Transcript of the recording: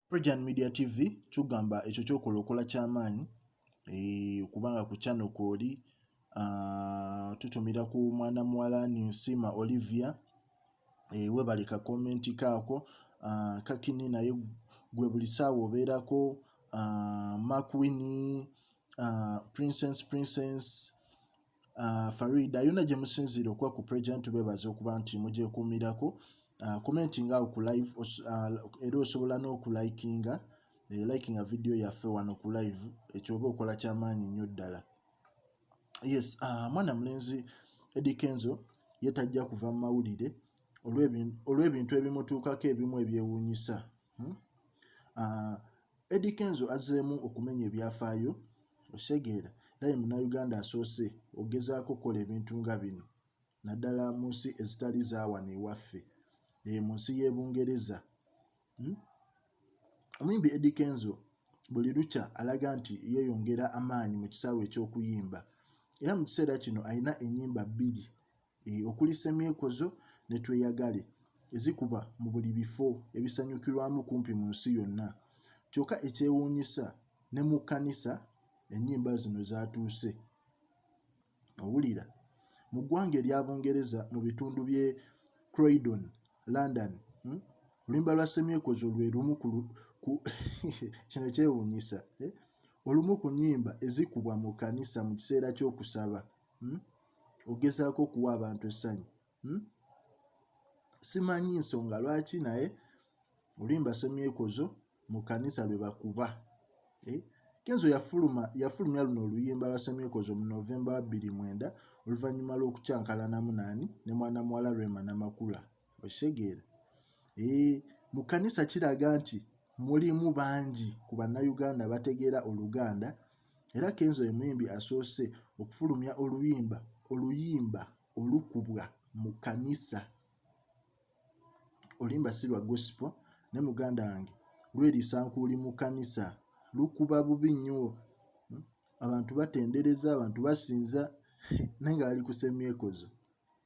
Projan Media TV kyugamba ekyo kyokola okola kyamaanyi eh, okubanga ku channel kwoli ah, tutumira ku mwana muwala Ninsima Olivia eh, webale ka comment kaako ah, kakini naye gwe buli saawa obeerako ah, Mark Winnie, Princess Princess Uh, Farida yona gye musinziira okuba ku president tubebaza okuba nti mugyekuumirako uh, komenti nga ku live uh, era osobola n'okulikinga uh, eh, likinga vidiyo yaffe wano ku live ekyoba okola kyamaanyi nnyo ddala yes uh, mwana mulenzi edikenzo ye tajja kuva mu mawulire olw'ebintu ebimutuukako ebimu ebyewuunyisa hmm? uh, Eddy Kenzo azzeemu okumenya ebyafaayo osegeera naye munnayuganda asoose okugezaako okukola ebintu nga bino naddala mu nsi ezitali zaawano ewaffe eyo eh, mu nsi y'e Bungereza. Hmm? Omuyimbi Eddy Kenzo buli lukya alaga nti yeeyongera amaanyi mu kisaawe eky'okuyimba era mu kiseera kino alina ennyimba bbiri e, okulisa emyeko zo ne tweyagale ezikuba mu buli bifo ebisanyukirwamu kumpi mu nsi yonna kyokka ekyewuunyisa ne mu kkanisa ennyimba zino zaatuuse owulira mu ggwanga erya bungereza mu bitundu bye croydon london hmm? oluyimba lwa semyekozo lwe lumu kino kyewuunyisa eh? olumu ku nnyimba ezikubwa mu kkanisa mu kiseera ky'okusaba hmm? ogezaako okuwa abantu essanyu hmm? simanyi nsonga lwaki naye olimba semyekozo mu kanisa lwe bakuba eh? kenzo yafuluma yafulumya luno oluyimba lwa semyekozo mu novemba wa bbiri mwenda oluvannyuma lw'okukyankalanamu naani ne mwana muwala rwema namakula okitegeera eh, mu kanisa kiraga nti mulimu bangi ku bannayuganda bategeera oluganda era kenzo ye muyimbi asoose okufulumya oluyimba oluyimba olukubwa mu kanisa oluyimba si lwa gosipo ne muganda wange lweriisa nkuuli mu kanisa lukuba bubi nnyo hmm? abantu batendereza abantu basinza naye nga bali ku semyekozo